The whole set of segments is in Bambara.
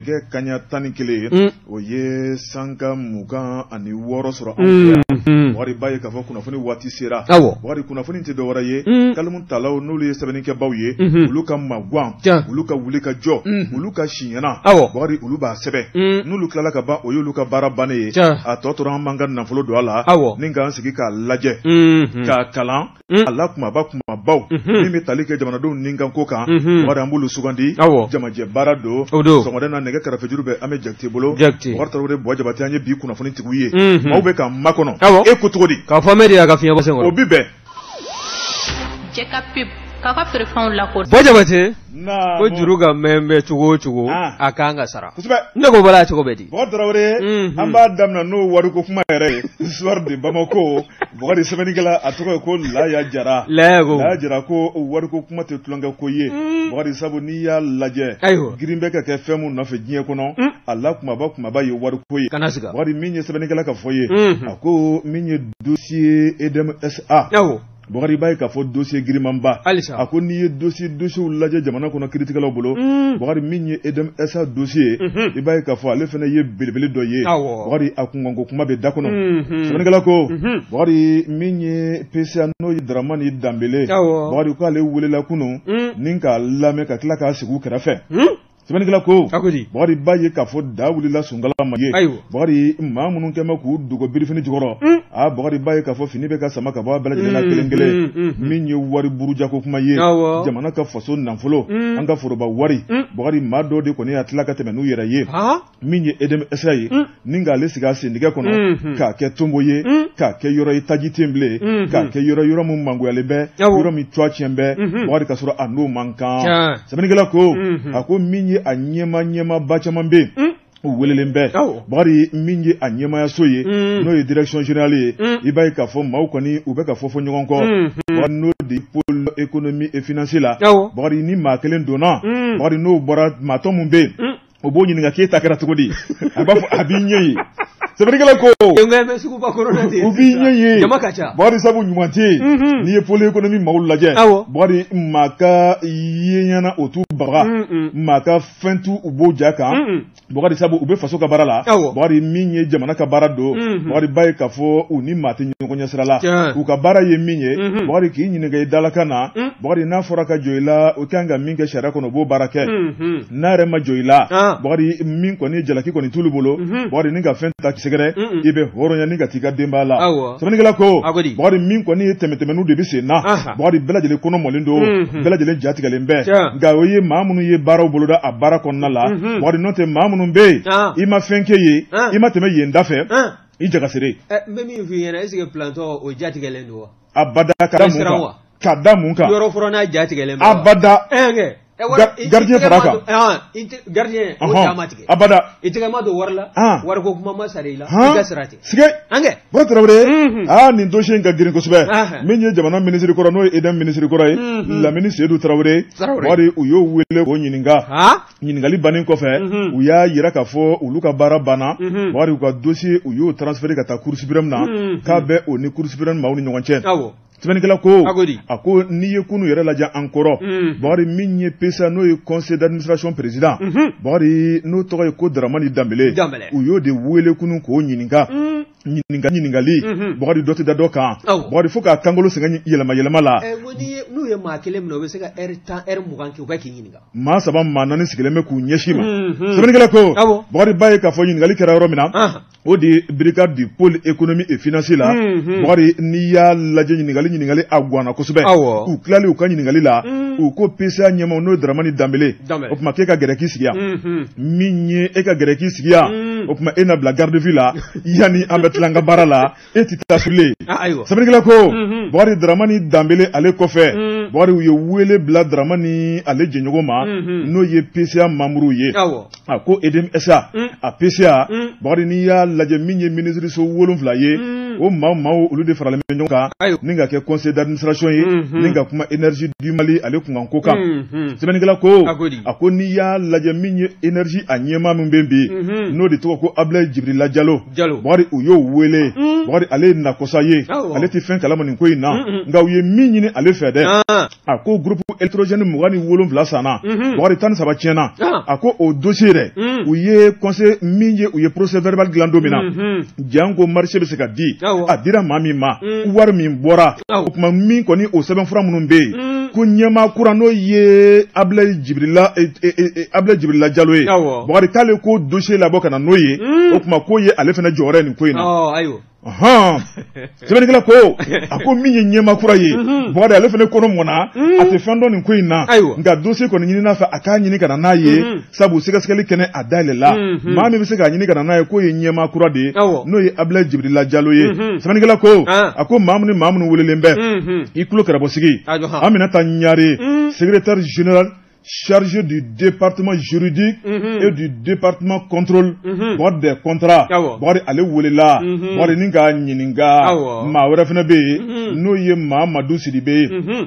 kɛ kanɲɛ tan ni kelen ye mm. o ye sanga mugan ani wɔɔrɔ sɔrɔ anw fɛ yan mm, mm. bakari b'a ye k'a fɔ kunnafoni waati sera bakari kunnafoni tɛ dɔ wɛrɛ ye kalimu talaw n'olu ye sɛbɛnnikɛbaaw ye mm-hmm. olu ka magwan olu ka wuli ka jɔ mm-hmm. olu ka siɲɛna bakari olu b'a sɛbɛn n'olu tilala ka ban o y'olu ka baara bannen ye a tɔ tora an b'an ka nafolo don a la ni k'an sigi k'a lajɛ mm-hmm. k'a kalan Mm. a la kumaba kumabaw Mhm. min bɛ tali kɛ jamanadenw ni kan ko kan Mhm. bakari an b'olu sugandi Awɔ. jamajɛ baara don O don. sɔgɔmada na nɛgɛ karafejuru bɛ an bɛ jakite bolo Jakite. bakari tarawele buwa jabate an ye bi kunnafoni tigiw ye Mhm. maaw bɛ k'an makɔnɔ Awɔ. e ko cogo di k'a fɔ mɛ de y'a ka fiɲɛbɔ sen o kɔrɔ bi bɛn jɛka pep k'a ka feerefɛnw lakɔ buwa jabate Naamu. Ko juru ka mɛn bɛ cogo o cogo, an, a kan ka sara. Kosɛbɛ. Ne ko bala cogo bɛ di. Bɔkari Tarawele. Unhun. An b'a daminɛ n'o wariko kuma yɛrɛ ye. Soir de Bamako. Bɔkari sɛbɛnnikɛla a tɔgɔ ye ko Laya Jara. Laya ko. Laya Jara ko wariko kuma tɛ tulonkɛ ko ye. Bɔkari sabu n'i y'a lajɛ. Ayiwa. Girin bɛ ka kɛ fɛn min nɔfɛ diɲɛ kɔnɔ. A la kumaba kumaba ye wariko ye. Kana siga. Bɔkari min ye sɛbɛnnikɛla ka fɔ ye. Unhun. A ko min ye dossier EDMSA. Awɔ. Bakari i b'a ye k'a fɔ dossier girimanba, halisa, a ko n'i ye dossier dossiers lajɛ jamana kɔnɔ kiiritigɛlaw bolo, un, Bakari min ye EDMSA dossier ye, unhun, i b'a ye k'a fɔ ale fana ye belebele dɔ ye, awɔ, Bakari a kunkanko kuma bɛ da kɔnɔ, unhun, sɛbɛnnikɛla ko, unhun, Bakari min ye PCA n'o ye Daramani Danbele, awɔ, Bakari k'ale welela kunun, un, ni k'a lamɛn ka tila k'a sigi u kɛrɛfɛ, un Sɛbɛnnikɛla ko, a ko di, Bakari i b'a ye k'a fɔ daa wulila sunkala ma ye, ayiwa, Bakari maa minnu kɛlen bɛ k'u dogo birifini jukɔrɔ, un, a Bakari i b'a ye k'a fɔ fini bɛ ka sama ka bɔ a bɛɛ lajɛlen na kelen kelen, un, un, un, min ye wari burujako kuma ye, awɔ, jamana ka faso nafolo, un, an ka foroba wari, un, Bakari maa dɔw de kɔni y'a tila ka tɛmɛn n'u yɛrɛ ye, han min ye EDMSA ye mm. ni k'ale sigi a sendigɛ kɔnɔ mm-hmm. k'a kɛ tonbo ye mm. k'a kɛ yɔrɔ ye taji tɛ yen bilen mm-hmm. k'a kɛ yɔrɔ yɔrɔ min mangoyalen bɛ yɔrɔ min tɔgɔ tiɲɛ bɛ mm-hmm. bakari ka sɔrɔ a n'o man kan sɛbɛnnikɛla ko a ko min ye a ɲɛmaa ɲɛmaaba caman bɛ yen mm. u welelen bɛ bakari min ye a ɲɛmaayaso ye n'o ye direction générale ye i b'a ye k'a fɔ maaw kɔni u bɛ ka fofo ɲɔgɔn kɔ n'o de pôle économie et financier la bakari ni maa kelen donna bakari n'o bɔra maa tɔ min bɛ yen o b'o ɲininka k'e ta kɛra cogo di a b'a fɔ a b'i ɲɛ ye sɛbɛnnikɛla ko u b'i ɲɛ ye bakari sabu ɲuman tɛ yen mhm. n'i ye pôle économie maaw lajɛ bakari maa ka yeɲɛna o t'u baga mm, mm. maa ka fɛn t'u bɔ u ja kan mm, bakari sabu u bɛ faso ka baara la bakari min ye jamana ka baara don mhm. bakari b'a ye k'a fɔ u ni maa tɛ ɲɔgɔn ɲɛ sira la u ka baara ye min ye mhm. bakari k'i ɲininka i dalakan na bakari n'a fɔra ka jɔ i la o kan ka min kɛ sariya kɔnɔ o b'o baara kɛ n'a yɛrɛ ma jɔ i la ah. bakari min kɔni jalaki kɔni t'olu bolo mhm. bakari ni ka fɛn ta k'i sɛgɛrɛ i bɛ hɔrɔnya ni ka t'i ka denbaya la sɛbɛnnikɛla ko bakari min kɔni ye tɛmɛtɛmɛniw de bɛ sen na bakari bɛɛ lajɛlen kɔnɔ mɔlen don mhm. bɛɛ lajɛlen ja tigɛlen bɛɛ nka o ye maa minnu ye baaraw boloda a baara kɔnɔna la mhm. bakari n'o tɛ maa minnu bɛ yen ah. i ma fɛn kɛ yen ah. i ma tɛmɛ yen da fɛ i jagasere. Eh, n bɛ min f'i ɲɛna est-ce que plantɔ o ja tigɛlen don wa. abada ka da mun kan ka da mun kan. yɔrɔ furanna ja tigɛlen don wa. abada. Eh, Eh, gardien fara kan gardien o ja ma tigɛ abada i tɛgɛ ma don wari la wariko kuma ma sara i la i ka sira tɛ sike an kɛ bɔrɔ tarawele aa nin dossier in ka girin kosɛbɛ min ye jamana minisiri kɔrɔ n'o ye EDM minisiri kɔrɔ ye lamini seyidu tarawele bakari u y'o wele k'o ɲininka ɲininkali bannen kɔfɛ u y'a yira k'a fɔ olu ka baara banna bakari u ka dossier u y'o transférer ka taa cour suprême na k'a bɛ o ni cour suprême maaw ni ɲɔgɔn cɛ sɛbɛnnikɛla ko a ko n'i ye kunu yɛrɛ lajɛ an kɔrɔ mm. bakari min ye PCA n'o ye conseil d'administration président mm-hmm. bakari n'o tɔgɔ ye ko daramani danbele u y'o de wele kunu k'o ɲininka mm. ɲininka ɲininkali mm-hmm. bakari dɔ tɛ da dɔ kan bakari fo k'a kankolo sɛgɛn yɛlɛma yɛlɛma la eh, n'u ye maa kelen minɛ u bɛ se ka ɛri tan ɛri mugan kɛ u bɛ k'i ɲininka maa saba maa naani sigilen bɛ k'u ɲɛsin i ma mm-hmm. sɛbɛnnikɛla ko bakari b'a ye k'a fɔ ɲininkali kɛra yɔrɔ min na o de ye brigade du pôle économie et financier la mhm. Bakari n'i y'a lajɛ ɲininkali ɲininkali a gwanna kosɛbɛ u tilalen u ka ɲininkali la mhm. u ko PCA ɲɛmaaw n'o ye Daramani Danbele o tuma k'e ka gɛrɛ k'i sigi yan mhm. min ye e ka gɛrɛ k'i sigi yan o tuma e na bila garde vue la yanni an bɛ tila an ka baara la e tɛ taa so dɛ sɛbɛnnikɛla ko mhm. bakari daramani danbele ale kɔfɛ mhm. bakari u ye wele bila daramani ale jɛɲɔgɔn ma mhm. n'o ye pca manburuw ye a ko EDM SA a pca bakari n'i y'a lajɛ min ye minisiriso wolonfila ye o maa maaw olu de faralen bɛ ɲɔgɔn kan ni ka kɛ conseil d'administration ye ni ka kuma énergie du mali ale kunkanko kan sɛbɛnnikɛla ko a ko n'i y'a lajɛ min ye énergie a ɲɛmaa min bɛ bi n'o de tɔgɔ ko abulayi jibirila jalo bakari u y'o wele mm. bakari ale ye nakosa ye ale tɛ fɛn kalama nin ko in na nka u ye min ɲini ale fɛ dɛ ah. a ko groupe électrogène mugan ni wolonfila sanna mm-hmm. bakari tan ni saba tiɲɛna ah. a ko o dossier dɛ mm. u ye conseil min ye u ye procès verbal dilan don min na mm-hmm. janko marché bɛ se ka di a dira maa min ma mm. wari min bɔra o tuma min kɔni o sɛbɛnfura minnu bɛ yen mm. ko ɲɛmaa kura n'o ye abulayi jibirila e, e, e, abulayi jibirila jalo ye bakari k'ale k'o dossier labɔ ka na n'o ye mm. o tuma k'o ye ale fana jɔyɔrɔ ye nin ko in na hɔn sɛbɛnnikɛla ko a ko min ye ɲɛmaa kura ye mhm. bakari ale fana kɔnɔ mɔnna mhm. a tɛ fɛn dɔn nin ko in na nka dossier kɔni ɲinin'a fɛ a k'a ɲini ka na n'a ye mhm. sabu sɛgɛsɛgɛli kɛnɛ a dayɛlɛla mhm. maa min bɛ se k'a ɲini ka na n'a ye k'o ye ɲɛmaa kura de ye n'o ye abilayi jibirila jalo ye mhm. sɛbɛnnikɛla ko ah. a ko maa minnu maa minnu welelen bɛ mhm. i tulo kɛrɛbɔsigi aminata ɲare secrétaire général chargé du département juridique mm -hmm. et du département contrôle mm -hmm. bakari des contrats bakari ale welela mm -hmm. bakari ni k'a ɲininka maa wɛrɛ fana bɛ yen mhm. n'o ye mahamadu sidibe ye mhm.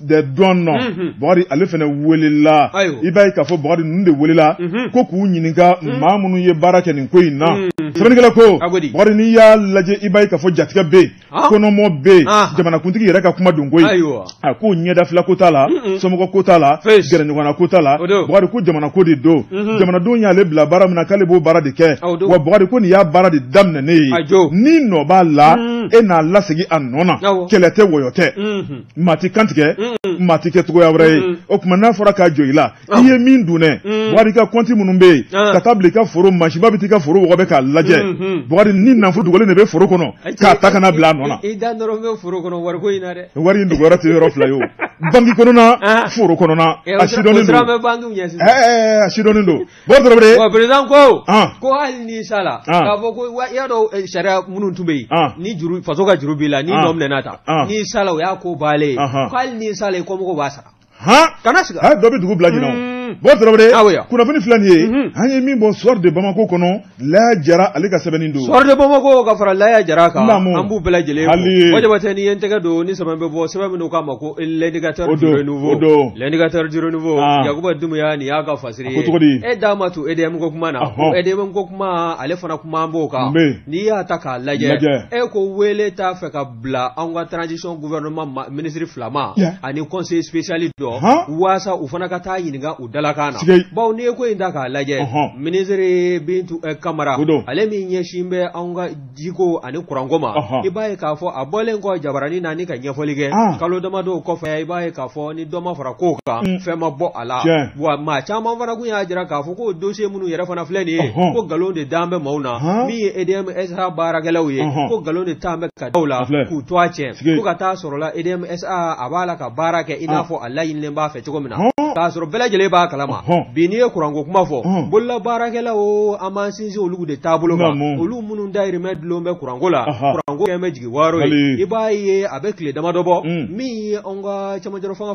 des douanes mhm. bakari ale fana welela i b'a ye k'a fɔ bakari ninnu de welela mhm. ko k'u ɲininka mhm. maa minnu ye baara kɛ nin ko in na sɛbɛnnikɛla ko bakari n'i y'a lajɛ i b'a ye k'a fɔ jatigɛ bɛ yen ah. kɔnɔmɔ bɛ yen ah. jamanakuntigi yɛrɛ ka kuma don ko in a ko ɲɛdafila ko t'a la somɔgɔ ko t'a la gɛrɛɲɔgɔnna ko t'a la bakari ko jamana ko de don jamanadenw y'ale bila baara min na k'ale b'o baara de kɛ wa bakari ko nin y'a baara de daminɛnen ye n'i nɔ b'a la e n'a lasegin a nɔ na kɛlɛ tɛ wɔyɔ tɛ maa tɛ kantigɛ maa tɛ kɛ cogoya wɛrɛ ye o tuma n'a fɔra k'a jɔ i la i ye min dun dɛ Bakari ka kɔnti minnu bɛ yen ka taa bila i ka foro mansinba bɛ t'i ka foro wɔgɔbɛ k'a lajɛ Bakari ni nafolo dogolen de bɛ foro kɔnɔ k'a ta ka n'a bila a nɔ na i da dɔrɔn bɛ foro kɔnɔ wariko in na dɛ wari in dogoyɔrɔ tɛ yɔrɔ fila ye o banki kɔnɔna foro kɔnɔna a sidɔnnen don a sidɔnnen don Bakari Traoré bon président ko ɔn ko hali n'i sala Ɔn. k'a fɔ ko wa i y'a dɔn eh, sariya minnu tun bɛ yen Ɔn. ni juru faso ka juru b'i la n'i Ɔn. nɔ minɛna ta Ɔn. n'i sala o y'a ko bannen ye Ɔnhɔn. ko hali n'i sala i kɔmɔgɔw b'a sara a kana siga dɔ bɛ dugu bila ɲinɛ o. Mm. Bakari Traoré Ah oui, ah. kunnafoni filɛ nin ye Mhm. an ye min bɔ soir de Bamako kɔnɔ Laya jara ale ka sɛbɛn don soir de bamako ka fara laya jara kan an b'u bɛɛ lajɛlen fo jabatɛ ne ye n tɛgɛ don ni sɛbɛn bɛ bɔ sɛbɛn min k'a ma ko l'indicateur don l'indicateur du renouveau yakuba dumbuya nin y'a ka fasiri ye e d'a ma to EDM ko kuma na ko EDM ko kuma ale fana kumanen b'o kan n'i y'a ta k'a lajɛ e ko wele t'a fɛ ka bila an ka transition gouvernement ministre fila ma ani conseil spécial dɔ walasa u fana ka taa ɲininka Dalakan na sike bawo n'i ye ko in ta k'a lajɛ Ɔnhɔn. minisiri Bintu eh, Kamara o don. ale min ɲɛsin bɛ anw ka jiko ani kuranko ma Ɔnhɔn. i b'a ye k'a fɔ a bɔlen kɔ jabaranin na ni ka ɲɛfɔli kɛ Ah. kalo damadɔw kɔfɛ i b'a ye k'a fɔ ni dɔ ma fara kow kan Mm. fɛn ma bɔ a la Tiɲɛ. wa maa caman fana kun y'a jira k'a fɔ ko dossier minnu yɛrɛ fana filɛ nin ye Ɔnhɔn. ko nkalon de dan bɛ maaw na Ɔnhɔn. min ye EDM SA baarakɛlaw ye Ɔnhɔn. ko nkalon de tan bɛ ka da u la A filɛ. k'u tɔgɔ tiɲɛ Sike. fo ka taa sɔrɔla EDM SA a b'a la ka baara kɛ i n'a Ah. fɔ a laɲinilen b'a fɛ cogo min na k'a sɔrɔ bɛɛ lajɛlen b'a kalama bi n'i ye kuranko kuma fɔ bololabaarakɛlaw o an b'an sinsin olu de taabolo kan olu minnu dayirimɛ dulon bɛ kuranko la kuranko kɛlen bɛ jigiwaaro ye i b'a ye a bɛ tile damadɔ bɔ mm. min ye anw ka cɛmancɛrɔfanga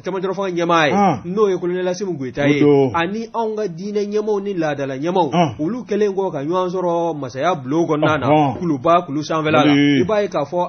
cɛmancɛrɔfanga ɲɛmaa ye n'o ye kolonɛli Asimi Goyita ye ani anw ka diinɛ ɲɛmaaw ni laadala ɲɛmaaw olu kɛlen kɔ ka ɲɔgɔn sɔrɔ masaya bulon kɔnɔna na kuluba kulu sanfɛla la i b'a ye k'a fɔ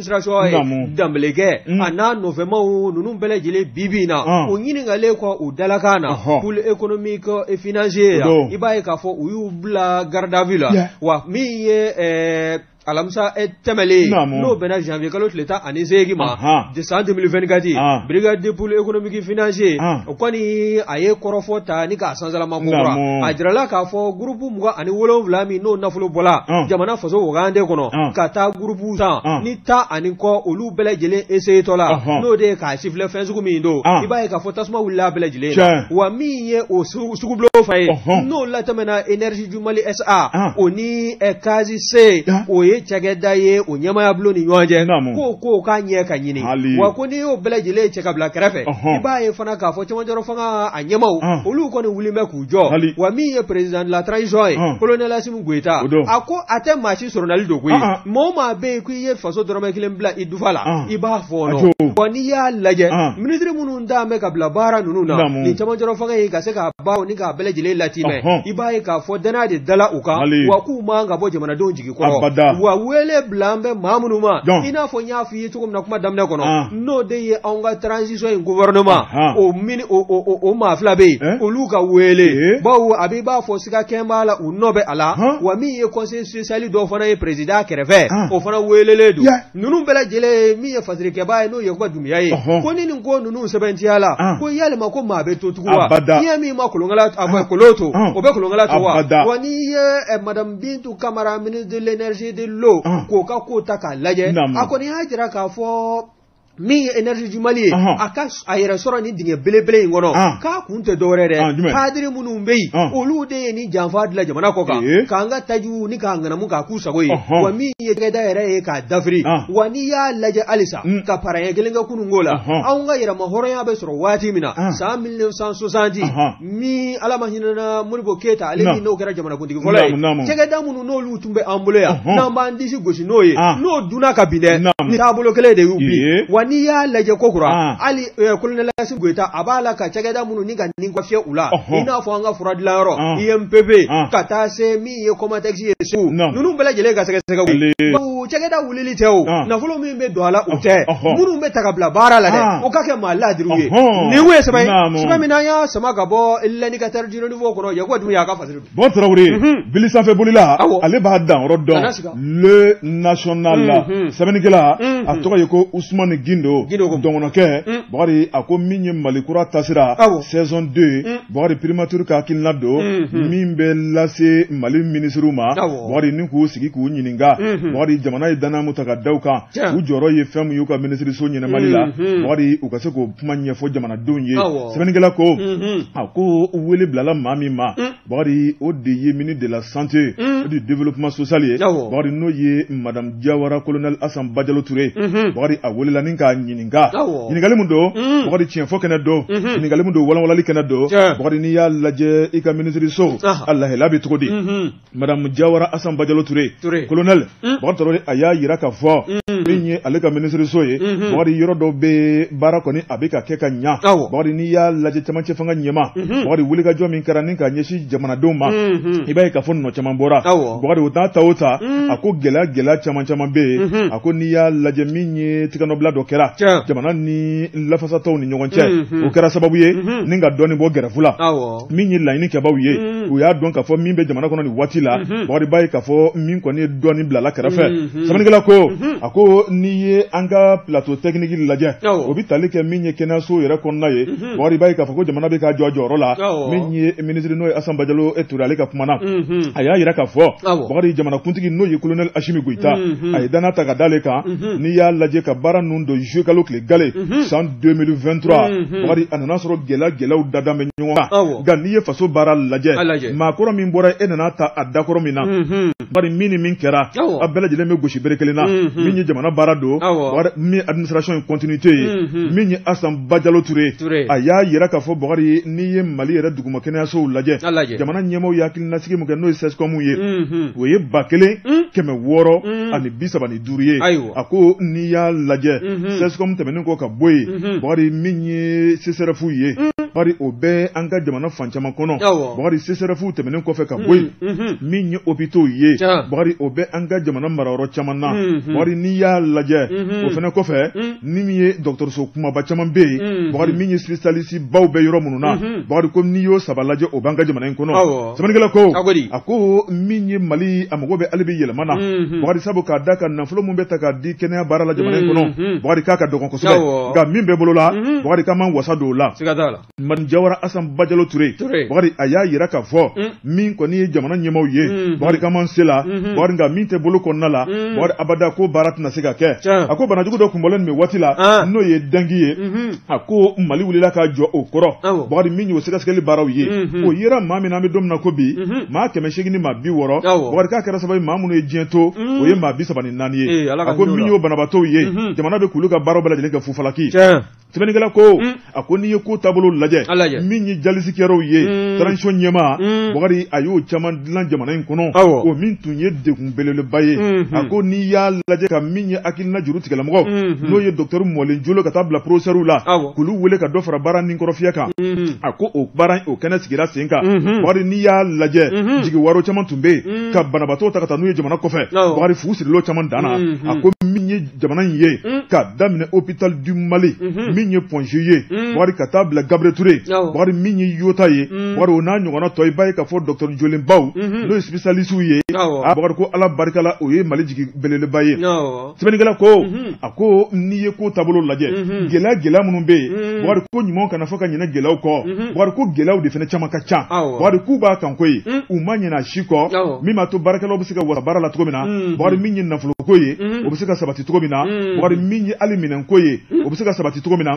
administration ye Danbɛlɛkɛ a n'a nɔfɛma ninnu bɛɛ lajɛlen bibi na o ɲininkalen kɔ u dalakan na pôle économique et financier i b'a ye k'a fɔ u y'u bila garde à vue la wa min ye alamisa eh, tɛmɛlen n'o bɛnna janvier kalo tile tan ani seegin ma san 2024 brigade de pôle économique financier o kɔni a ye kɔrɔfɔ ta ni k'a Nanzsarama a jirala k'a fɔ groupe mugan ani wolonwula min n'o nafolo bɔra jamana faso wagande kɔnɔ ka taa groupe san ni tan ani kɔ olu bɛɛ lajɛlen essayertɔ la n'o de ye k'a sifilɛ fɛn sugu min don i b'a ye ka fɔ tasuma wilila bɛɛ lajɛlen wa min ye o sugu bolofa ye n'o latɛmɛna énergie du Mali SA o ni Case C o ye cakɛda ye o ɲɛmaaya bulon ni ɲɔgɔn cɛ ko ko k'a ɲɛ ka ɲini wa ko n'i y'o bɛɛ lajɛlen cɛ k'a bila kɛrɛfɛ i b'a ye fana k'a fɔ cɛmancɛrɔ fanga ɲɛmaw olu kɔni wulilen bɛ k'u jɔ wa min ye président de la transition ye colonel Assimi Goïta a ko a tɛ maa si sɔrɔli don koyi maa o maa bɛ yen ko i ye faso dɔrɔmɛ kelen bila i dufa la i b'a fɔɔnɔ n'i y'a lajɛ ministre minnu da bɛ ka bila baara ninnu na ni cɛmancɛrɔ fanga ye ka se k'a ban ni k'a bɛɛ lajɛlen latimɛ i b'a ye k'a fɔ danaya de dala u kan wa k'u man ka bɔ jamanadenw jigin kɔrɔ wa wele bilalen bɛ maa minnu ma i n'a fɔ i ye cogo min na kuma daminɛ kɔnɔ ah. n'o de ye anw ka transition in gouvernement ah. o mini o o o maa fila bɛ yen eh? olu ka wele eh? bawo a bɛ i b'a fɔ siga kɛlen b'a la u nɔ bɛ a la ah. wa min ye conseiller spécial dɔ fana ye président kɛrɛfɛ o fana welelen don ninnu bɛɛ lajɛlen min ye fasirikɛbaa ye n'o ye Yakuba Dumuya ye ko ni nin ko ninnu sɛbɛntiyala ko yalima ko maa bɛ to tugun wa n'i ye min ma kolonkala a bɛ kolon to o bɛ kolonkala to wa wa n'i ye eh, madame Bintu Kamara ministre de l'énergie et de l'eau k'o ka ko ta k'a lajɛ a kɔni y'a jira k'a fɔ min ye énergie du Mali ye a ka a yɛrɛ sɔrɔ ni dingɛ belebele in kɔnɔ k'a kun tɛ dɔwɛrɛ dɛ kadiri minnu bɛ yen olu de ye ni janfa dilan jamana kɔ kan k'an ka tajiw ni k'a ŋanamu k'a k'u sago ye wa min ye cakɛda yɛrɛ ye k'a dafiri wa n'i y'a lajɛ halisa ka pas arrière kelen kɛ kunun ko la anw ka yɛrɛmahɔrɔnya bɛ sɔrɔ waati min na san 1960 min ala ma hinɛna Modibo Keyita ale min n'o kɛra jamanakuntigi fɔlɔ ye cakɛda minnu n'olu tun bɛ an bolo yan n'an b'an disi gosi n'o ye n'o dun na ka bin dɛ ni taabolo kelen de y'u bin wa n'i y'a lajɛ ko kura hali colonel Assimi Goïta a b'a la ka cakɛda minnu nin ka nin kura fiyɛ u la i n'a fɔ an ka fura dilanyɔrɔ UMPP ka taa se min ye COMATEX ye segu ninnu bɛɛ lajɛlen ka sɛgɛsɛgɛ cakɛda wulili tɛ o nafolo min bɛ don a la u tɛ minnu bɛ ta k'u bila baara la dɛ o ka kɛ maa ladiriw ye nin ye sɛbɛn ye min an y'a sama ka bɔ L'Indicateur du Renouveau kɔnɔ Yakuba Dumuya ka fasiri bon Tarawele bili sanfɛ bolila ale b'a danyɔrɔ dɔn Le National sɛbɛnnikɛla a tɔgɔ ye ko Usumani Gindo Dɔgɔnɔkɛ Bari a ko min ye Mali Kura Taasira saison 2 ye Bakari primature ka hakilina don min bɛ lase mali minisiriw ma bakari ni k'u sigi k'u ɲininka bakari jamana ye danaya min ta ka da u kan u jɔyɔrɔ ye fɛn min y'u ka minisiriso ɲɛnabɔli la bakari u ka se k'o kuma ɲɛfɔ jamanadenw ye sɛbɛnnikɛla ko a ko wele bilala maa min ma bakari o de ye ministre de la santé et du développement social ye bakari n'o ye madamu jawara kolonɛli asan bajalo ture ye a welela k'a ɲini nka ɲininkali min don mm. bakari tiɲɛfɔ kɛnɛ don mm-hmm. ɲininkali min don walanwalali kɛnɛ don bakari n'i y'a lajɛ i ka minisiriso ah. a lahala bɛ cogo di mm-hmm. madamu jawara asan bajalo ture kolonɛli mm. bakari tɔrɔ a y'a jira ka fɔ mm. min ye ale ka minisiriso ye mm-hmm. bakari yɔrɔ dɔw bɛ baara kɔni a bɛ ka kɛ ka ɲa bakari n'i y'a lajɛ camancɛ fanga ɲɛma bakari wulikajɔ min kɛra ni ka ɲɛsin jamanadenw ma i b'a ye ka fɔ nɔ caman bɔra bakari o t'a ta o ta a ko gɛlɛya gɛlɛya caman caman bɛ yen a ko n'i y'a lajɛ min ye tɛgɛnɔbila dɔ kɛra jamana ni lafasatɔw ni ɲɔgɔn cɛ mhm. o kɛra sababu ye mhm. ni ka dɔɔni bɔ gɛrɛfu la min ye laɲini kɛbaw ye mhm. u y'a dɔn k'a fɔ min bɛ jamana kɔnɔ nin waati la bakari b'a ye k'a fɔ min kɔni ye dɔɔni bilala kɛrɛfɛ sɛbɛnnikɛla ko a ko n'i ye an ka plateau technique lajɛ o bɛ tali kɛ min ye kɛnɛyaso yɛrɛ kɔnɔna ye Hmm. Bakari i b'a ye k'a fɔ ko jamana bɛ ka jɔ a jɔyɔrɔ la min ye minisiri n'o ye asan bajalo e ture ale ka kuma na mhm. a y'a jira ka fɔ bakari jamanakuntigi n'o ye kolonɛli asimi goyita mhm. a ye danaya ta ka da ale kan mhm. n'i y'a lajɛ ka baara ninnu don zuyekalo tile gale san 2023 bakari a nana sɔrɔ gɛlɛya gɛlɛyaw dada bɛ ɲɔgɔn kan nka n'i ye faso baara lajɛ maakɔrɔ min bɔra e nana ta a dakɔrɔ min na bari min ni min kɛra a bɛɛ lajɛlen bɛ gosi bere kelen na min ye jamana baara don min administration continuité ye min ye Asan Bajalo Ture a y'a jira k'a fɔ Bakari n'i ye Mali yɛrɛ duguma kɛnɛyasow lajɛ jamana ɲɛmaaw ye hakilinasigi min kɛ n'o ye CSCOM ye o ye ba kelen kɛmɛ wɔɔrɔ ani bi saba duuru ye a ko n'i y'a lajɛ mhm. CSCOM tɛmɛnen kɔ ka bɔ yen mhm. bakari min ye sesɛrɛfu ye mhm. bakari o bɛ an ka jamana fan caman kɔnɔ bakari sesɛrɛfu tɛmɛnen kɔfɛ ka bɔ yen min ye hôpitaux ye bakari o bɛ an ka jamana marayɔrɔ caman na bakari n'i y'a lajɛ o fana kɔfɛ ni min ye dɔgɔtɔrɔso kumaba caman bɛ yen bakari min ye spécialiste baw bɛ yɔrɔ minnu na bakari ko n'i y'o saba lajɛ o b'an ka jamana in kɔnɔ Sɛbɛnnikɛla ko, a ko di? a ko min ye Mali a mago bɛ hali bi yɛlɛma na, unhun, Bakari sabu k'a da kan nafolo min bɛ ta k'a di kɛnɛya baara la jamana in kɔnɔ, unhun, Bakari k'a ka dɔgɔn kosɛbɛ, awɔ, nka min bɛ bolo la, unhun, Bakari k'an b'an wasa don o la. Siga t'a la. Madamu Jawara Asan Bajalo Ture, Ture. Bakari a y'a jira k'a fɔ, Un. min kɔni ye jamana ɲɛmaaw ye, Unhun. Bakari k'an b'an se la, Unhun. Bakari nka min tɛ bolo kɔnɔna la, Un. Bakari abada ko baara tɛna se ka kɛ. Tiɲɛ. A ko banajugu dɔ kun bɔlen nin bɛ waati la, An. n'o ye dangi ye, Unhun. a ko mali wulila ka jɔ o kɔrɔ bakari min y'o sɛgɛsɛgɛli baaraw ye mhm. o yera maa min na an bɛ don min na ko bi mhm. maa kɛmɛ seegin ni maa bi wɔɔrɔ bakari k'a kɛra sababu maa minnu ye diɲɛ to mhm. o ye maa bi saba ni naani ye a ko min y'o banabaatɔw ye jamana bɛ k'olu ka baaraw bɛɛ lajɛlen kɛ fu falaki sɛbɛnnikɛla ko mm. a ko n'i ye ko taabolo lajɛ min ye jalisikɛlaw ye mm. transition ɲɛmaa mm. bakari a y'o caman dilan jamana in kɔnɔ o min tun ye degun belebeleba ye a ko n'i y'a lajɛ ka min ye hakilina juru tigɛlamɔgɔ n'o ye docteur mɔlen jolenw ka taa bila professeurw la k'olu wele ka dɔ fara baara nin kɔrɔfiyɛ kan a ko o baara o kɛnɛ sigira sen kan bakari n'i y'a lajɛ jigiwaaro caman tun bɛ yen ka banabaatɔw ta ka taa n'u ye jamana kɔfɛ bakari fu sirila o caman dan na a ko min ye jamana in ye mm. k'a daminɛ hôpital du mali mm -hmm. min ye point g ye mm. bakari ka taa bila gabriel ture oh. bakari min ye iota ye mm. bakari o n'a ɲɔgɔnna tɔ i b'a ye k'a fɔ docteur jolenbaw mm -hmm. n'o ye spécialistew ye oh. a bakari ko ala barika la o ye mali jigi belebeleba ye oh. sɛbɛnnikɛla ko mm -hmm. a ko n'i ye ko taabolo lajɛ mm -hmm. gɛlɛya gɛlɛya minnu bɛ yen mm. bakari ko ɲumanw kana fɔ ka ɲinɛ gɛlɛyaw kɔ mm -hmm. bakari ko gɛlɛyaw de fana caman ka ca oh. bakari k'u b'a kan koyi mm. u ma ɲinɛ a si kɔ oh. min b'a to baarakɛlaw se ka wasa baara la cogo min na bakari min ye nafolo ko ye o bɛ se ka sabati cogo min na bakari min ye hali minɛn ko ye o bɛ se ka sabati cogo min na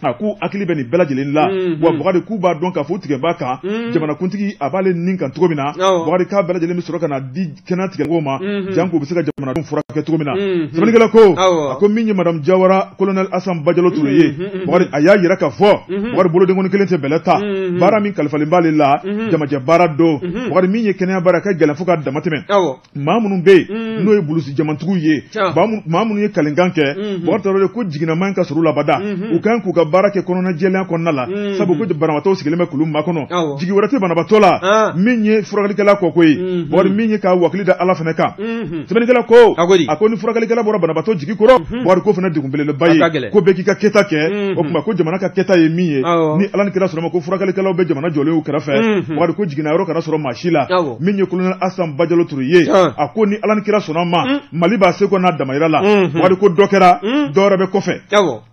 a k'u hakili bɛ nin bɛɛ lajɛlen la wa bakari k'u b'a dɔn k'a fɔ tigɛ b'a kan jamanakuntigi a b'ale nin kan cogo min na bakari k'a bɛɛ lajɛlen bɛ sɔrɔ ka na di kɛnɛya tigɛmɔgɔw ma janko u bɛ se ka jamanadenw furakɛ cogo min na sɛbɛnnikɛla ko a ko min ye madamu jawara kolonɛli asan bajalo ture ye bakari a y'a yira k'a fɔ bakari bolodenkɔni kelen tɛ bɛlɛ ta baara min kalifalen b'ale la jamajɛ baara don Hmm. Bakari min ye kɛnɛya baara ye a ka gɛlɛn fo ka dama tɛmɛ. Awɔ. Maa minnu bɛ yen. Hmm. N'o ye bulusi jɛmantigiw ye. Tiɲɛ. Maa minnu maa minnu ye kalenkan kɛ. Unhun. Bakari Tarawele ko jiginna man ka sɔrɔ u la abada. Unhun. U ka kan k'u ka baara kɛ kɔnɔnajɛlenya kɔnɔna la. Unhun. Sabu ko banabaatɔw sigilen bɛ k'olu makɔnɔ. Awɔ. Jigi wɛrɛ tɛ banabaatɔ la. An. Min ye furakɛlikɛla kɔko ye. Unhun. Bakari min ye k'a wakili da Ala fana kan. Un. sɛbɛnnikɛla ko a ko di a ko ni furakɛlikɛla bɔra banabaatɔ jigi kɔrɔ mhm. bakari k'o fana degun belebeleba ye ko bɛɛ k'i ka kɛta kɛ mhm. o tuma ko jamana ka kɛta ye min ye ni ala ni kira sɔnna ma ko furakɛlikɛlaw bɛ jamana jɔlen y'u kɛrɛfɛ mhm. bakari ko jiginna yɔrɔ kana sɔrɔ maa si la min ye kolonɛli asan bajalo ture ye a ko ni ala ni kira sɔnna ma mali b'a seko n'a damayira la bakari ko dɔ kɛra dɔ wɛrɛ bɛ kɔfɛ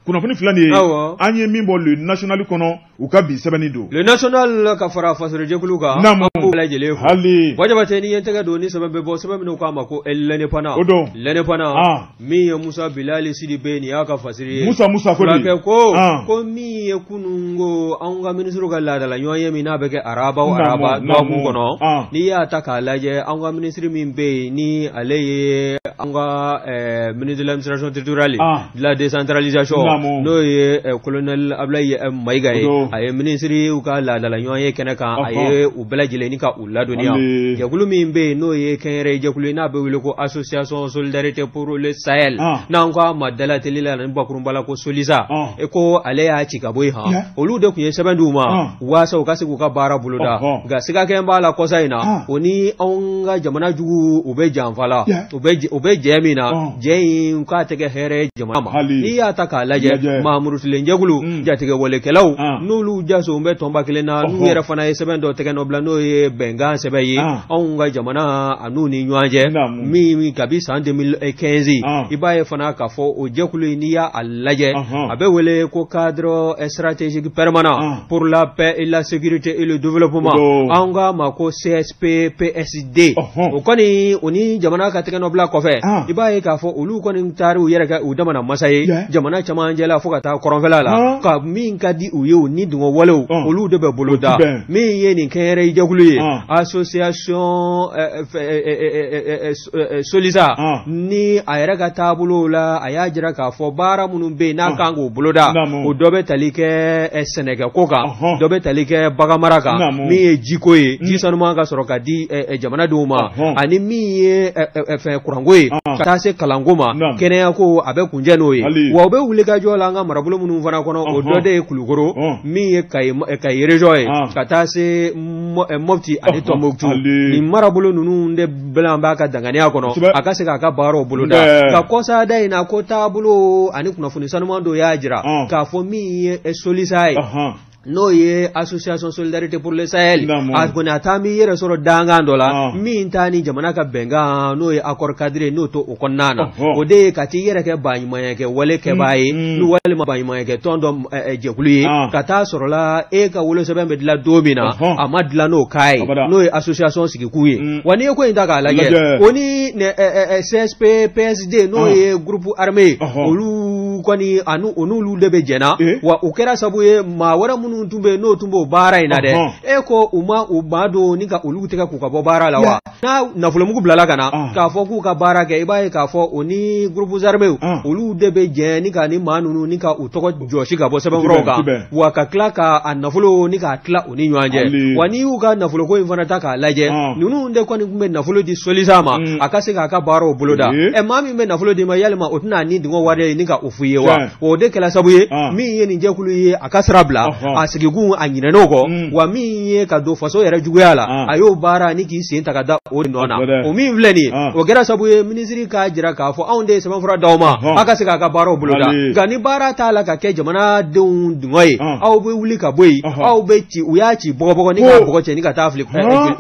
kunnafoni fila nin ye an ye min bɔ le national kɔnɔ u ka bi sɛbɛnni don le national ka fara fasorojɛkulu kan Naamu. an b'u bɛɛ lajɛlen fo aliw jabatɛ ne ye n tɛgɛ don ni sɛbɛn bɛ bɔ sɛbɛn min n'u k'a ma ko l'indépendant O don. l'indépendant Ah. min ye musa bilali sidibe nin y'a ka fasiri ye musa musa ko di fulakɛ ko Ah. ko min ye kunun ko anw ka minisiriw ka laadala ɲɔgɔnye min n'a bɛ kɛ araba o Naamu, araba naamu. dɔgɔkun kɔnɔ Ah. n'i y'a ta k'a lajɛ anw ka minisiri min bɛ yen ni ale ye anw ka eh, ministre de l'administration territoriale Ah. la décentralisation n'o ye eh, colonel Ablaye eh, Mayiga ye a ye minisiriw ka laadala ɲɔgɔnye kɛnɛ kan a ye u bɛɛ lajɛlen ni ka u ladɔnniya jɛkulu min bɛ yen n'o ye kɛnyɛrɛye jɛkulu ye n'a bɛ wele ko association solidarité pour le Sahel ah. n'an ko a ma dalateli la ni bakurunba la ko solisa ah. e ko ale y'a ci ka bɔ yen han olu de tun ye sɛbɛn di u ma ah. waasa u ka se k'u ka baara boloda nka sigakɛ b'a la kɔsa in na o ni anw ka jamana jugu u bɛ janfa la u bɛ jɛ min na jɛ in k'a tɛ kɛ hɛrɛ jamana ma n'i y'a ta k'a lajɛ maa murutilen jɛkulu mm. jatigɛwalekɛlaw n'olu jaso bɛ tɔnba kelen na n'u yɛrɛ fana ye sɛbɛn dɔ tɛgɛnɔ bila n'o ye bɛnkan sɛbɛn ye anw ka jamana an'u ni ɲɔgɔn cɛ min kabi san 2015 i b'a ye fana k'a fɔ o jɛkulu in n'i y'a lajɛ a bɛ wele ko cadre stratégique permanent pour la paix et la sécurité et le développement an k'a ma ko CSP PSD o kɔni u ni jamana ka tɛgɛnɔbila kɔfɛ i b'a ye k'a fɔ olu kɔni taar'u yɛrɛ kɛ u damana masa ye jamana camancɛ la fo ka taa kɔrɔnfɛla la ka min ka di u ye u ni dungɔ walew olu de bɛ boloda min ye nin kɛnyɛrɛye jɛkulu ye association solisa ni a yɛrɛ ka taabolo la a y'a jira k'a fɔ baara minnu bɛ yen n'a kan k'o boloda o dɔ bɛ tali kɛ sɛnɛkɛko kan dɔ bɛ tali kɛ baganmara kan min ye jiko ye ji sanuman ka sɔrɔ ka di jamanadenw ma ani min ye fɛn kuranko ye ka taa se kalanko ma kɛnɛyako a bɛ kuncɛ n'o ye wa u bɛ wuli ka jɔ la an ka marabolo minnu fana kɔnɔ o dɔ de ye Kulukoro min ye Kayi région ye ka taa se Mɔti ani Tombouctou ni marabolo ninnu bɛɛ b'a ka danganiya kɔnɔ Kosɛbɛ. a ka se k'a ka baaraw boloda Nbɛɛ. nka kɔsada in na ko taabolo ani kunnafoni sanuman dɔ y'a jira Ɔn. k'a fɔ min ye eh, solisa ye Ɔhɔn. n'o ye association solidarité pour le sahel Naamu. a kɔni a taa m'i yɛrɛ sɔrɔ dankan dɔ la Ɔn. min t'a ni jamana ka bɛnkan n'o ye accord cadre ye n'o t'o kɔnɔna na Ɔhɔn. o de ye ka t'i yɛrɛ kɛ baɲumanyakɛ wale kɛbaa ye Mm, mm. ni walima baɲumanyakɛ tɔn dɔ jɛkulu ye ka taa sɔrɔla e ka wolosɛbɛn bɛ dilan don min na a ma dilan n'o ka ye n'o ye association sigikun ye wa n'i ye ko in ta k'a lajɛ ko ni CSP PSD n'o ye groupe armé ye olu kɔni o n'olu de bɛ jɛnna wa u kɛra sabu ye maa wɛrɛ minnu tun bɛ yen n'o tun b'o baara in na dɛ e ko u ma u ba don ni ka olu tigɛ k'u ka bɔ baara la wa n'a nafolomugu bilala ka na ah. k'a fɔ k'u ka baara kɛ i b'a ye k'a fɔ o ni groupes armés ah. olu de bɛ jɛ ni ka ni maa ninnu ni ka u tɔgɔ jɔsi ka bɔ sɛbɛnkɔrɔw kan wa ka tila ka a nafolo ni k'a tila u ni ɲɔgɔn cɛ wa n'i y'u ka nafoloko in fana ta k'a lajɛ ah. ninnu de kɔni tun bɛ nafolo di solisa ma mm. a ka se k'a ka baaraw boloda ɛ maa min bɛ nafolo di ma yalima o tɛna ni dungɔ wale ye ni ka o f'u ye wa o de kɛra sabu ye min ye nin jɛkulu ye a ka sira bila a sigikun a ɲinɛn'o kɔ mm. wa min ye ka don faso yɛrɛ juguya la a y'o baara ni k'i sen ta ka da o nɔ na o min filɛ nin o kɛra sabu ye minisiri k'a jira k'a fɔ anw de ye sɛbɛnfura d'aw ma aw ka se k'a ka baaraw boloda nka ni baara t'a la ka kɛ jamanadenw dungɔ ye aw bɛ wuli ka bɔ yen aw bɛ ci u y'a ci bɔgɔbɔgɔ ni k'a bɔgɔ cɛ ni ka taa fili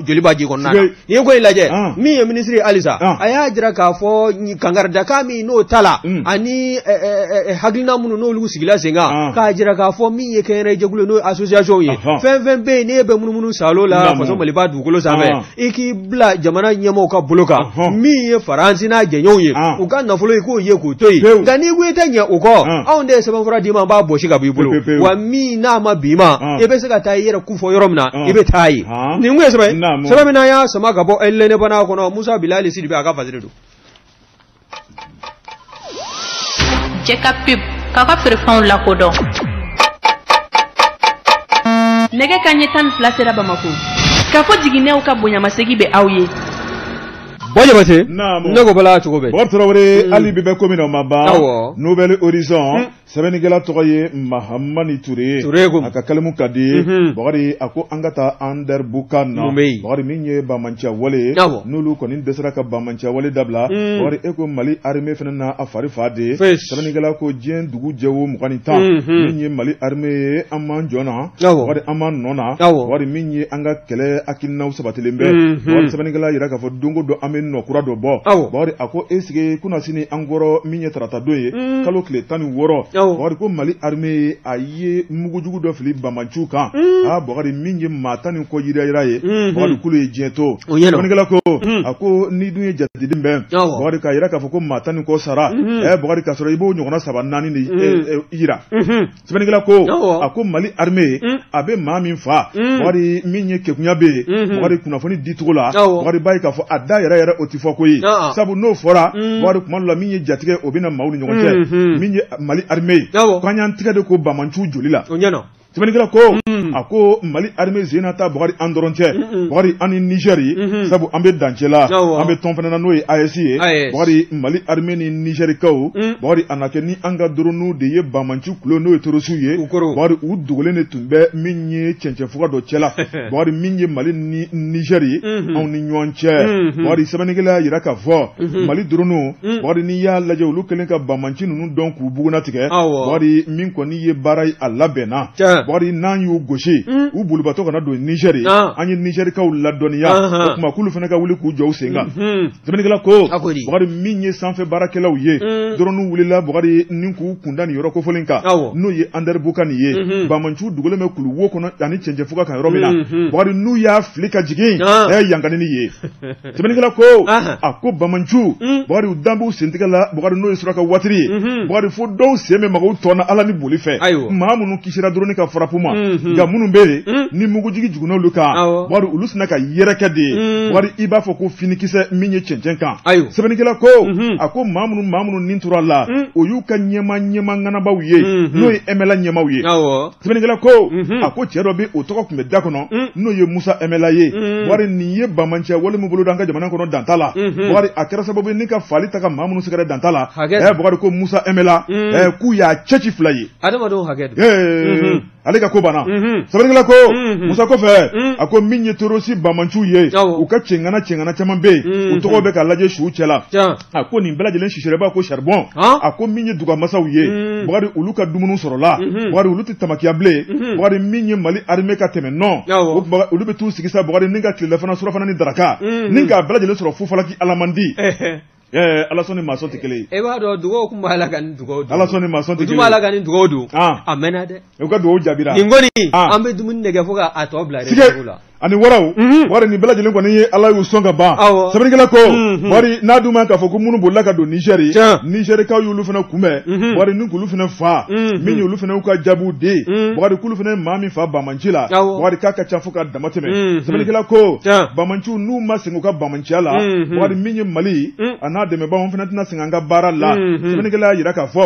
joliba ji kɔnɔ N'i ye ko in lajɛ ah. min ye minisiri ye halisa ah. a y'a jira k'a fɔ kankaridakan min n'o tala hmm. ani eh, eh, eh, hakilina minnu n'olu sigila sen kan ah. k'a jira k'a fɔ min ye kɛnyɛrɛye jɛkulu n'o association ye fɛn fɛn bɛ yen n'e bɛ munumunu salo la faso maliba dugukolo sanfɛ i k'i bila jamana ɲɛmɔgɔw ka bolo kan min ye faransi n'a jɛɲɔgɔnw ye u ka nafolo i k'o ye k'o to yen nka n'i ko i tɛ ɲɛ o kɔ anw de ye sɛbɛnfura d'i ma an b'a bɔsi ka b'i bolo wa min n'a ma b'i ma i bɛ se ka taa i yɛrɛ kofɔ yɔrɔ min na i bɛ taa yen Haan? nin kun ye sɛbɛn Naamu. sɛbɛn min n'an y'a sama ka bɔ L'Indépendant kɔnɔ musa bilali sidibe a ka fasiri don jɛka pub k'a ka feerefɛnw lakodɔn nɛgɛ kanɲɛ tan ni fila sera bamako k'a fɔ jiginɛw ka bonyamasegi bɛ aw ye bɔ jabate Naamu. ne ko bala cogo bɛ Bob Traoré, hali bi bɛ ko min na o ma ban. Awɔ. Nouvelle Horizon, sɛbɛnnikɛla tɔgɔ ye mahamani ture a ka kalimu ka di mhm. bakari a ko an ka taa anderbukan na bakari min ye bamanciya wale ye n'olu kɔni dɛsɛra ka bamanciya wale dabila mhm. bakari e ko mali arime fana na a fari fa de sɛbɛnnikɛla ko diɲɛ dugu jɛ wo mugan ni tan mhm. min ye mali arime ye an m'an jɔ na bakari an m'an nɔ na bakari min ye an ka kɛlɛ hakilinaw sabatilen bɛ bakari sɛbɛnnikɛla yira k'a fɔ don o don an bɛ nɔ kura dɔ bɔ bakari a ko e sigi kunasini an kɔrɔ min ye tarata don ye mm. kalo tile tan ni wɔɔrɔ bakari ko mali armée ye a ye mugujugu dɔ fili bamanciw kan mm. aa bakari min ye maa tan ni kɔ yirayira ye mm-hmm. bakari k'olu ye diɲɛ to sɛbɛnnikɛla ko mm. a ko n'i dun ye jateden bɛn bakari k'a yira k'a fɔ ko maa tan ni kɔ sara mm-hmm. ɛ bakari k'a sɔrɔ i b'o ɲɔgɔnna saba naani de eh, eh, yira mm-hmm. sɛbɛnnikɛla ko a ko mali armée ye mm. a bɛ maa min fa mm. bakari min ye keguya bɛ yen mm-hmm. bakari kunnafoni di cogo la bakari b'a ye k'a fɔ a da yɛrɛ yɛrɛ o tɛ fɔko ye sabu n'o fɔra mm. bakari kuma dɔ la min ye jatigɛ o bɛ na maaw ni ɲɔgɔn cɛ mm-hmm. min ye mali armée ye k'an y'an tigɛ de ko bamanciw joli la sɛbɛnnikɛla ko mm. a ko mali armée zena ta bakari an dɔrɔn tɛ bakari an ni niger ye mm-hmm. sabu an bɛ dancɛ la an bɛ tɔn fana na n'o ye AES ye bakari mali armée ni nizɛrikaw mm. bakari a na kɛ ni an ka doroniw de ye bamanci kulu n'o ye terorisiw ye bakari u dogolen de tun bɛ min ye cɛncɛnfuga dɔ cɛla bakari min ye mali ni nizɛri ye mm-hmm. anw ni ɲɔgɔn cɛ mm-hmm. bakari sɛbɛnnikɛla y'a yira k'a fɔ mm-hmm. mali doroniw mm. bakari n'i y'a lajɛ olu kɛlen ka bamanci ninnu dɔn k'u bugunatigɛ bakari min kɔni ye baara ye a labɛnna bakari n'an y'u gosi mm. u bolibatɔ kana don nizɛri ah. an ye nizɛrikaw ladɔnniya o tuma k'olu fana ka wuli k'u jɔ u sen kan Sɛbɛnnikɛla ko, a ko di, Bakari min ye sanfɛ baarakɛlaw ye, un, drone wulila Bakari ni k'u kunda nin yɔrɔ kofɔlen kan, awɔ, n'o ye Ander Bukani ye, unhun, Bamanciw dogolen bɛ kulu wo kɔnɔ ani cɛncɛnfuga kan yɔrɔ min na, unhun, Bakari n'u y'a fili ka jigin, an, ɛ yankanini ye. Sɛbɛnnikɛla ko, ahan, a ko Bamanciw, un, Bakari u dan b'u sentigɛ la, Bakari n'o ye suraka watiri ye, unhun, Bakari fo dɔw sen bɛ maga u tɔn na Ala ni boli fɛ, ayiwa, maa minnu kisira drone ka frappe ma unhun nka minnu bɛ yen Mm. ni mugujigi jiginna olu kan Awɔ. Bakari olu sina ka yɛrɛkɛ de ye Mm. Bakari i b'a fɔ ko finikisɛ min ye cɛncɛn kan Ayiwa. sɛbɛnnikɛla ko Mhm. a ko maa minnu maa minnu ni tora a la Mm. o y'u ka ɲɛma ɲɛma ŋanabaw ye Mhm. n'o ye ɛmɛla ɲɛmaw ye awɔ sɛbɛnnikɛla ko Mhm. a ko cɛ dɔ bɛ o tɔgɔ tun bɛ da kɔnɔ Mm. n'o ye musa ɛmɛla ye Mm. Bakari nin ye bamanciya wale min bolo da an ka jamana kɔnɔ dan t'a la Mhm. Bakari a kɛra sababu ye ni ka faali ta ka maa minnu sɛgɛrɛ dan t'a la Hakɛ. ɛ Bakari ko musa ɛmɛla Mm. ɛ k'u y'a cɛci fila ye adamadenw hakɛ don ee ale ka ko banna sɛbɛnnikɛla ko musa kɔfɛ a ko min ye terroriste bamanciw ye u ka cɛŋana cɛŋana caman bɛ yen u tɔgɔ bɛ ka lajɛ suw cɛla a ko nin bɛɛ lajɛlen sisira i b'a ko charbon a ko min ye dugamasaw ye bakari olu ka dumuni sɔrɔla bakari olu tɛ tamakiya bilen bakari min ye mali armée ka tɛmɛ nɔ olu bɛ t'u sigi sa bakari ni ka tilelafana surafana ni daraka ni k'a bɛɛ lajɛlen sɔrɔ fufalaki alamandi Ɛɛ ala sɔn ni maa sɔn tɛ kelen ye e b'a dɔn dugaw tun b'a la ka nin dugawu don ala sɔn ni maa sɔn tɛ kelen ye u b'a la ka nin dugawu don a mɛnna dɛ u ka dugawu jaabira nin kɔni an bɛ dumuni nin kɛ fo k'a tɔ bila réserve la ani waraw Bakari nin bɛɛ lajɛlen kɔni ye ala y'u sɔn ka ban sɛbɛnnikɛla ko Bakari n'a dun ma k'a fɔ ko minnu bolila ka don Niger Nigerkaw y'olu fana kunbɛn Bakari ni k'olu fana fa min olu fana y'u ka jaabiw di Bakari k'olu fana ye maa min fa bamanci la Bakari k'a ka ca fo ka dama tɛmɛ sɛbɛnnikɛla ko bamanciw n'u ma sɛgɛn u ka ciya la mhm. bakari min ye mali mhm. a n'a dɛmɛbaaw fana tɛna sɛgɛn an ka baara la mhm. sɛbɛnnikɛla y'a yira k'a fɔ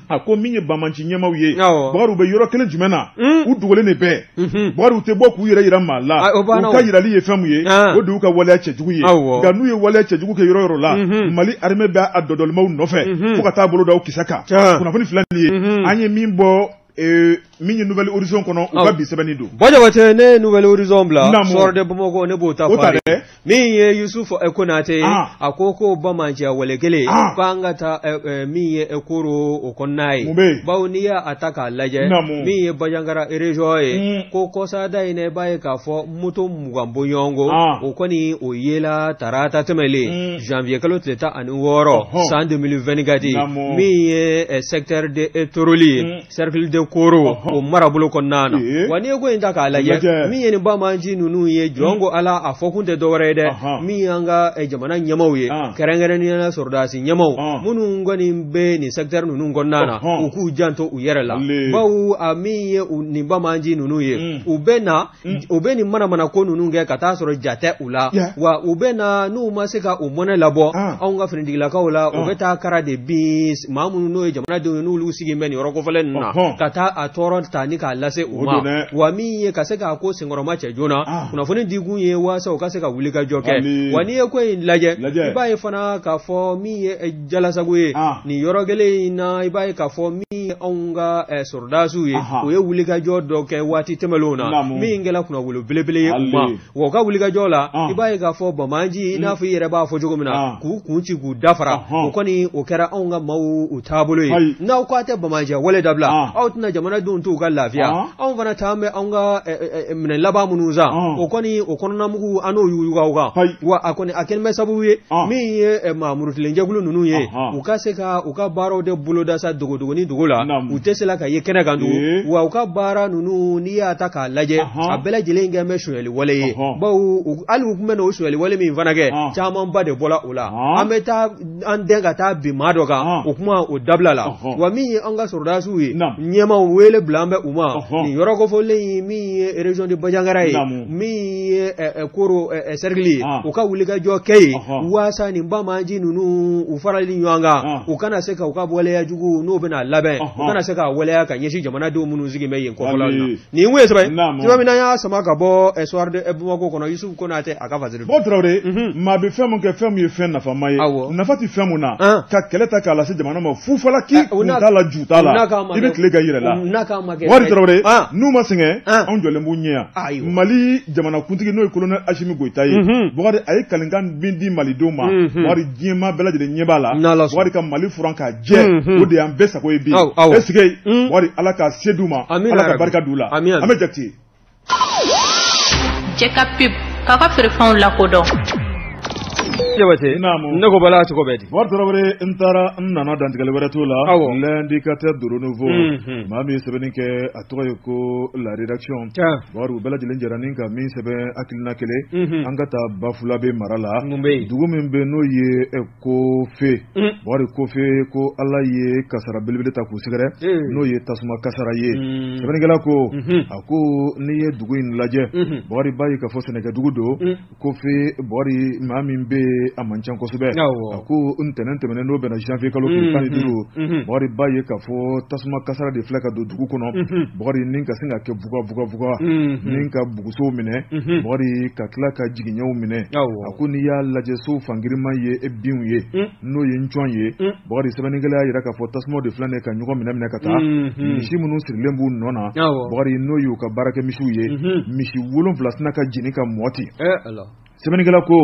a ko min ye bamanci ɲɛmaw ye bakari u bɛ yɔrɔ kelen jumɛn na u dogolen de bɛɛ bakari u tɛ bɔ k'u yɛrɛ yira maa la ah, u ka yirali ye fɛn min ye ah. o de y'u ka waleya cɛjugu ye nka n'u ye waleya cɛjugu kɛ yɔrɔ yɔrɔ la mali armée bɛ a dɔdɔlimaw nɔfɛ fo ka taa bolo da u kisɛ kan kunnafoni fila nin ye an ye min bɔ Ee min ye nouvel horizon kɔnɔ u ka bi sɛbɛnni don Bon Jabate ne ye nouvel horizon bila Naamu. Soir de Bamakɔ ne b'o ta O fɔ ta a ye. dɛ. min ye Yusufu eh, Konate ye Ah. a ko ko Bamanciya wale kelen Ah. ko an ka taa eh, eh, min ye eh, Koro o kɔnɔna ye Mun bɛ yen? bawo n'i y'a a ta k'a lajɛ Naamu. min ye Banjagara région ye Mm. ko kɔsada in na i b'a ye k'a fɔ moto mugan bɔɲɔgɔnko o kɔni o yera tarata tɛmɛlen janvier kalo tile tan ani wɔɔrɔ san deux mille vingt-quatre min ye secteur de toroli ye cercle de koro o marabolo kɔnɔna na wa n'i ye ko in ta k'a lajɛ min ye nin bamanci ninnu ye jɔnko ala a fɔ kun tɛ dɔwɛrɛ ye dɛ min y'an ka jamana ɲɛmaw ye kɛrɛnkɛrɛnnenya la sɔrɔdasi ɲɛmaw minnu kɔni bɛ nin secteur ninnu kɔnɔna na u k'u janto u yɛrɛ la bawo min ye nin bamanci ninnu ye u bɛ na Mm. u bɛ nin manamana ko ninnu kɛ ka taa sɔrɔ jatɛ u la wa u bɛ na n'u ma se ka u mɔnɛ labɔ ah. anw ka finitigilakaw la u ah. bɛ taa kara de bin maa minnu n'o ye jamanadenw ye n'olu sigilen bɛ nin yɔrɔ kofɔlen ninnu na ka taa a tɔɔrɔ ta ni k'a lase u ma wa min ye ka se k'a ko senkɔrɔmacɛ joona ah. kunnafoni di kun ye waasa u ka se ka wuli ka jɔ kɛ wa n'i ye ko in lajɛ i b'a ye fana k'a fɔ min ye Jalasagu ye ah. nin yɔrɔ kelen in na i b'a ye k'a fɔ min ye anw ka eh, sɔrɔdasiw ye u ye wulikajɔ dɔ kɛ waati tɛmɛnenw na min kɛra kunnawolo belebele ye u ma wa u ka wulikajɔ la ah. i b'a ye k'a fɔ banbaanci i n'a fɔ i yɛrɛ b'a fɔ cogo min na ah. k'u kun ci k'u dafara o kɔni o kɛra anw ka maaw u taabolo ye n'aw k'a tɛ banbaanciya wale dabila aw tɛna jamanadenw t'u ka lafiya anw fana taa bɛ anw ka eh, eh, Minɛn laban minnu san o kɔni o kɔnɔna mugu an n'o yuguba kan wa a kɔni a kɛlen bɛ sababu ye min ye maa murutilen jɛkulu ninnu ye u ka se ka u ka baaraw de boloda sa dogodogonin dogo la u tɛ se ka ye kɛnɛ kan tugun wa u ka baara ninnu n'i y'a ta k'a lajɛ a bɛɛ lajɛlen kɛ bɛ sonyali wale ye bawo hali u tun bɛna o sonyali wale min fana kɛ camanba de bɔra o la an bɛ taa an dɛn ka taa bin maa dɔ kan o kuma o dabilala wa min ye an ka sɔrɔdasiw ye ɲɛmaaw wele bilalen bɛ u ma nin yɔrɔ kofɔlen ye min ye région de Bajangara ye min ye Koro cercle ye u ka wulikajɔ kɛ yen waasa nin banbaanci ninnu u faralen ɲɔgɔn kan u kana se ka u ka waleya jugu n'o bɛna labɛn u kana se ka waleya ka ɲɛsin jamanadenw minnu sigilen bɛ yen kɔfɛla la nin tun ye sɛbɛn ye sɛbɛn min an y'a sama ka bɔ Soir de Bamako kɔnɔ Yusufu Konatɛ a ka Bakari tarawele maa bɛ fɛn min kɛ fɛn min ye fɛn nafama ye nafa tɛ fɛn min na ka kɛlɛ ta k'a lase jamana ma fufalaki kun t'a la ju t'a la i bɛ tile k'a yɛrɛ la tarawele n'u ma sɛgɛn anw jɔlen b'u ɲɛ yan mali jamanakuntigi n'o ye kolonɛli Asimi Goyita ye bakari a ye kalikan min di malidenw ma Bakari diɲɛmaa bɛɛ lajɛlen ɲɛ b'a la Bakari ka mali furan ka jɛ o de y'an bɛɛ sago ye bi est-ce que Bakari ala ka se d'u ma ala ka barika d'u la an bɛ jate Cɛ ka pub k'a ka feerefɛnw lakodɔn ne ko bala cogo bɛ di n taara n nana dantigɛli wɛrɛ to la l'Indicateur du Renouveau maa min ye sɛbɛnni kɛ a tɔgɔ ye ko la rédaction Bakari u bɛɛ lajɛlen jɛra nin ka min sɛbɛn hakilina kelen an ka taa Bafulabɛ mara la dugu min bɛ n'o ye Kofe Bakari Kofe ko ala ye kasara belebele ta k'u sɛgɛrɛ n'o ye tasuma kasara ye sɛbɛnnikɛla ko a ko n'i ye dugu in lajɛ Bakari i b'a ye k'a fɔ sɛnɛkɛdugu don Kofe Bakari maa min bɛ a man ca kosɛbɛ a ko ntɛnɛn tɛmɛnen n'o bɛnna janvier kalo tan ni duuru Bakari i b'a ye k'a fɔ tasuma kasara de filɛ ka don dugu kɔnɔ Bakari nin ka sin ka kɛ vuga vuga vuga ka bugusow minɛ bakari ka tila ka jiginɛw minɛ a ko n'i y'a lajɛ so fan girinman ye e binw ye n'o ye ncɔn ye bakari sɛbɛnnikɛla y'a jira k'a fɔ tasuma de filɛ nin ka ɲɔgɔn minɛ minɛ ka taa misi minnu sirilen b'u nɔ na bakari n'o y'u ka baarakɛ misiw ye misi wolonfila sina ka jeni ka mɔti sɛbɛnnikɛla ko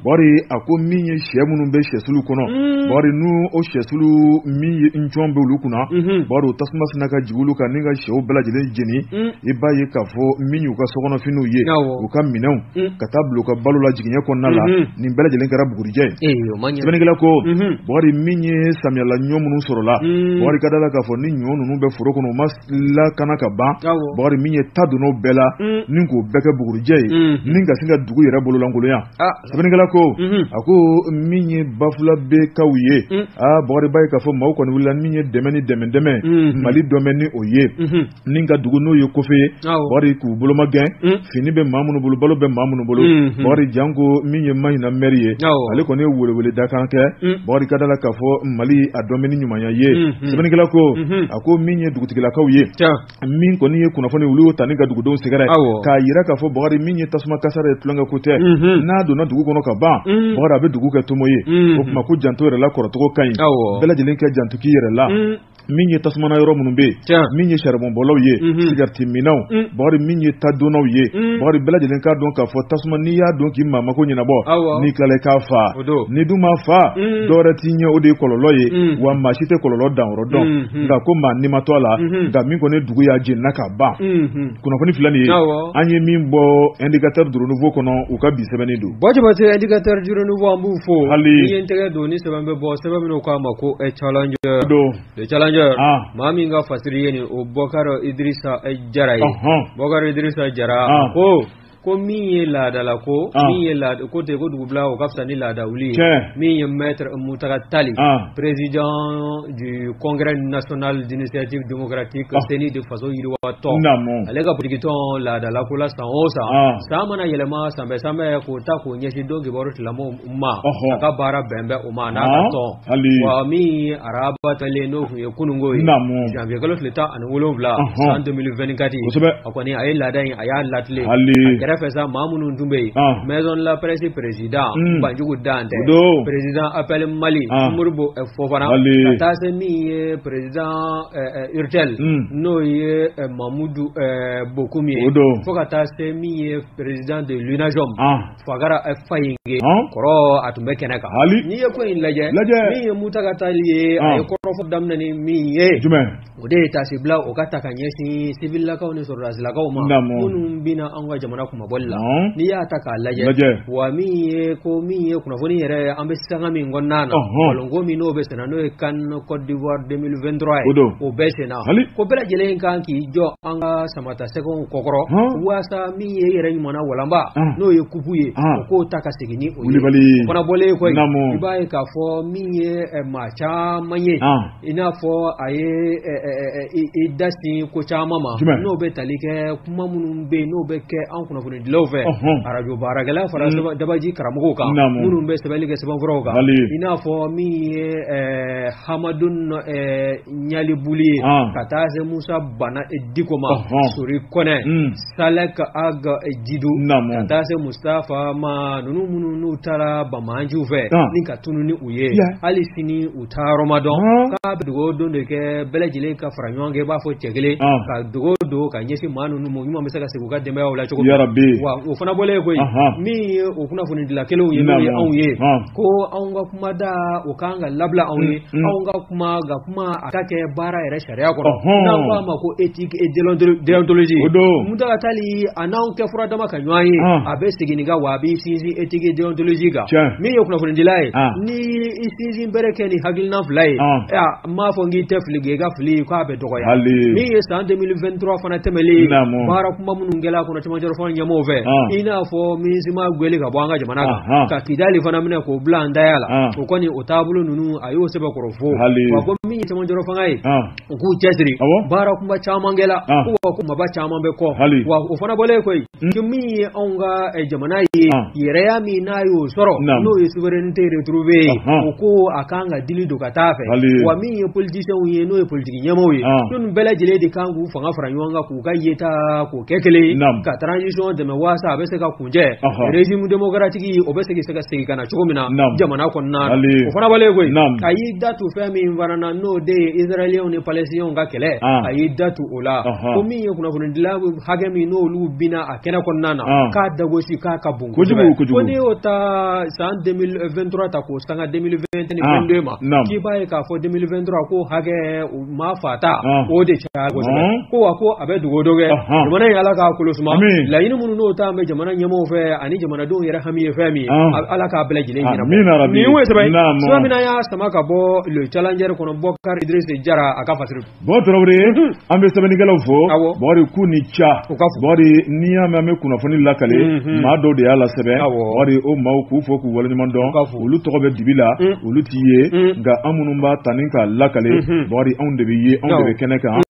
bakari a ko min ye shɛ minnu bɛ shɛsulu kɔnɔ bakari n' o shɛsulu min ye ncɔn bɛ olu kunna bakari tasuma sina ka jigin olu kan ni ka shɛw bɛɛ lajɛlen jeni i b'a ye k'a fɔ min y'u ka sokɔnɔfiniw ye u ka minɛnw ka taa bila u ka balo la jiginɛ kɔnɔna la nin bɛɛ lajɛlen kɛra bugurijɛ sɛbɛnnikɛla ko bakari min ye samiyala ɲɔ minnu sɔrɔla bakari ka d'a la k'a fɔ ni ɲɔ ninnu bɛ foro kɔnɔ lakana ka ban bakari min ye ta donna o bɛɛ la ni k'o bɛɛ kɛ bugurujɛ ye ni ka sin ka dugu yɛrɛ bololankolonya sɛbɛnnikɛla ko a ko min ye bafulabɛkaw ye aa bakari i b'a ye k'a fɔ maaw kɔni wulila min ye dɛmɛ ni dɛmɛ dɛmɛ mali dɔn bɛ ni o ye ni ka dugu n'o ye kofe ye bakari k'u bolomagɛn fini bɛ ma minnu bolo balo bɛ ma minnu bolo bakari janko min ye mahina mɛri ye ale kɔni ye welewele dakan kɛ bakari ka d'a la k'a fɔ mali a dɔn bɛ ni ɲumanya ye sɛbɛnnikɛla ko A ko min ye dugutigilakaw ye min kɔni ye kunnafoniw olu ta ni ka dugudenw sɛgɛrɛ k'a jira k'a fɔ bakari min ye tasuma kasaara ye tulonkɛ ko tɛ n'a donna dugu kɔnɔ ka ban bakari a bɛ dugu kɛ tomo ye o tuma ko janto yɛrɛ la kɔrɔcogo ka ɲi bɛɛ lajɛlen k'i janto k'i yɛrɛ la min ye tasuma mana yɔrɔ minnu bɛ yen min ye saribonbɔlaw ye sigarɛtiminnaw bakari min ye tadonnaw ye bakari bɛɛ lajɛlen k'a dɔn k'a fɔ tasuma n'i y'a don k'i maa mako ɲɛnabɔ n'i tilala k'a fa n'i dun m'a fa dɔrɔn tiɲɛ o de ye kɔlɔlɔ ye wa maa si tɛ kɔlɔlɔ dan yɔrɔ dɔn nka ko maa ni ma to a la nka min kɔni dugu y'a jenina ka ban kunnafoni fila nin ye an ye min bɔ indicateur du renouveau kɔnɔ u ka bi sɛbɛnni don bo jabatɛ indicateur du renouveau an b'u fo an y'an tɛgɛ don ni sɛbɛn bɛ bɔ sɛbɛn min u k'a ma ko le challenger maa min ka fasiri ye nin o bɔkari idirisa jara ye bɔkari idirisa jara ko Ko min ye laadala ko min ye laada ko ten ko dugu bila o ka fisa ni laada wuli min ye maître muntaga tali président du congrès national d'initiative démocratique cnid faso yiriwa tɔn ale ka politikitɔn laadala ko la san o san san mana yɛlɛma sanbɛ sanbɛ k'o ta k'o ɲɛsin donkibaru tila ka baara bɛn bɛ o ma n'a ka tɔn wa min araba tile n'o tun ye kununko ye janvier kalo tile tan ani wolonfila san deux mille vingt-quatre a kɔni a ye laada in a y'a latilen kɛrɛfɛ sa maa minnu tun bɛ yen maison de la presse président banjugu dantɛ président appel mali modibo fofana ka taa se min ye président urtel n'o ye mamudu bokum ye fo ka taa se min ye président de l'unajom Fakara Fayinkɛ kɔrɔ a tun bɛ kɛnɛ kan n'i ye ko in lajɛ min ye Muntaka Tall ye a ye kɔrɔfɔ daminɛ ni min ye o de ye taasibila o ka taa ka ɲɛsin siwililakaw ni sɔrɔdasilakaw ma minnu binna an ka jamana kunmabɔli la n'i y'a ta k'a lajɛ wa min ye ko min ye kunnafoni yɛrɛ an bɛ sanga min kɔnɔna na balɔnko min n'o bɛ senna n'o ye CAN Côte d'Ivoire 2023 ye o bɛ senna ko bɛɛ lajɛlen kan k'i jɔ an ka Samatasɛgɛw kɔkɔrɔ waasa min ye yɛrɛ ɲuman walanba n'o ye kupu ye k'o ta ka segin o fana bɔlen kɔ i b'a ye k'a fɔ min ye maa caman ye i n'a fɔ a ye i da sin ko caman ma n'o bɛ tali kɛ kuma minnu bɛ yen n'o bɛ kɛ an kunnafoni dilaw fɛ arajo baarakɛla fara dabaji karamɔgɔw kan minnu bɛ sɛbɛnni kɛ sɛbɛnfuraw kan i n'a fɔ min ye Hamadun Ɲalibuli ye ka taa se Musa Bana Diko ma Sori Kɔnɛ Salɛki Agi Jidu ka taa se Mustafa ma ninnu minnu n'u tara banbaanciw fɛ ni ka tunun ni u ye hali sini u taayɔrɔ ma dɔn k'a bɛ dugawu don de kɛ bɛɛ lajɛlen ka fara ɲɔgɔn kan i b'a fɔ cɛ kelen ka dugawu don ka ɲɛsin maa ninnu ma ɲuman bɛ se ka segin u ka denbayaw la cogo wa o fana bɔlen kɔ yen min ye o kunnafonidila kelenw ye n'o ye anw ye ko anw ka kumada o kan ka labila anw ye anw ka kuma kuma a ka kɛ baara yɛrɛ sariya kɔnɔ n'an k'a ma ko éthique et déontologie o don Muntaka Tall a n'anw kɛ fura dama ka ɲɔgɔn ye a bɛ segin nin kan wa a b'i sinsin éthique et déontologie kan min ye kunnafonidila ye n'i y'i sinsinbere kɛ nin hakilina fila ye n m'a fɔ n k'i tɛ fili kɛ nka fili k'a bɛ dɔgɔya min ye san 2023 fana tɛmɛlen baara kunba minnu kɛra a kɔnɔ cɛmancɛrɔfanga ɲɛmɔgɔw fɛ i n'a fɔ MINUSMA gwɛli ka bɔ an ka jamana kan ka Kidali fana minɛ k'o bila an taya la o kɔni o taabolo ninnu a y'o sɛbɛkɔrɔ fo wa ko min ye cɛmancɛrɔfanga ye u k'u cɛsiri baara kunba caman kɛla ko kunbaba caman bɛ kɔ wa o fana bɔlen kɔ yen hmm. ko min ye anw ka eh, jamana ye yɛrɛya min n'a y'o sɔrɔ n'o ye souveraineté retrouvé ye o ko a kan ka dili don ka taa fɛ wa min ye politiciens ye n'o ye politiki ɲɛmaaw ye n'olu bɛɛ lajɛlen de kan k'u fanga fara ɲɔgɔn kan k'u ka yeta k'o kɛ kelen ye ka transition dɛmɛ waasa a bɛ se ka régime démocratique o bɛ segin se ka segin ka na cogo min na jamana kɔnɔna o fana bɔlen kɔ yen a y'i da tu fɛn min fana na n'o de ye Israéliens ni Palestiniens ka kɛlɛ a y'i da tu o la ko min ye kunnafonidila hakɛ min n'olu binna a kɛnɛ kɔnɔna na k'a dagosi k'a ka bon ko n'i y'o ta san 2023 ta k'o sanga 2020 ni 22 ma k'i b'a ye k'a fɔ 2023 ko hakɛ maa fata o de caya kosɛbɛ ko wa ko a bɛ dugawu dɔ kɛ jamana ye ala k'a kolo suma laɲini minnu n'o ta bɛ jamana ɲɛmɔgɔ fɛ ani jamanadenw yɛrɛ hami ye fɛn min ye ala k'a bɛɛ lajɛlen ɲɛna nin ye sɛbɛn sira min y'a sama ka bɔ le challenger kɔnɔ bokari idrisi jara a ka fasiri bɔ tarawele an bɛ sɛbɛnnikɛlaw fo bɔgɔri k'u ni ce bɔgɔri n'i y'a mɛn an bɛ kunnafoni lakale maa dɔw de y'a lasɛbɛn bɔgɔri o maaw k'u fo k'u waleɲuman dɔn olu tɔgɔ bɛ dibi la olu tɛ ye nka anw minnu b'a ta ni k'a lakale bakari anw de bɛ ye anw de bɛ kɛnɛ kan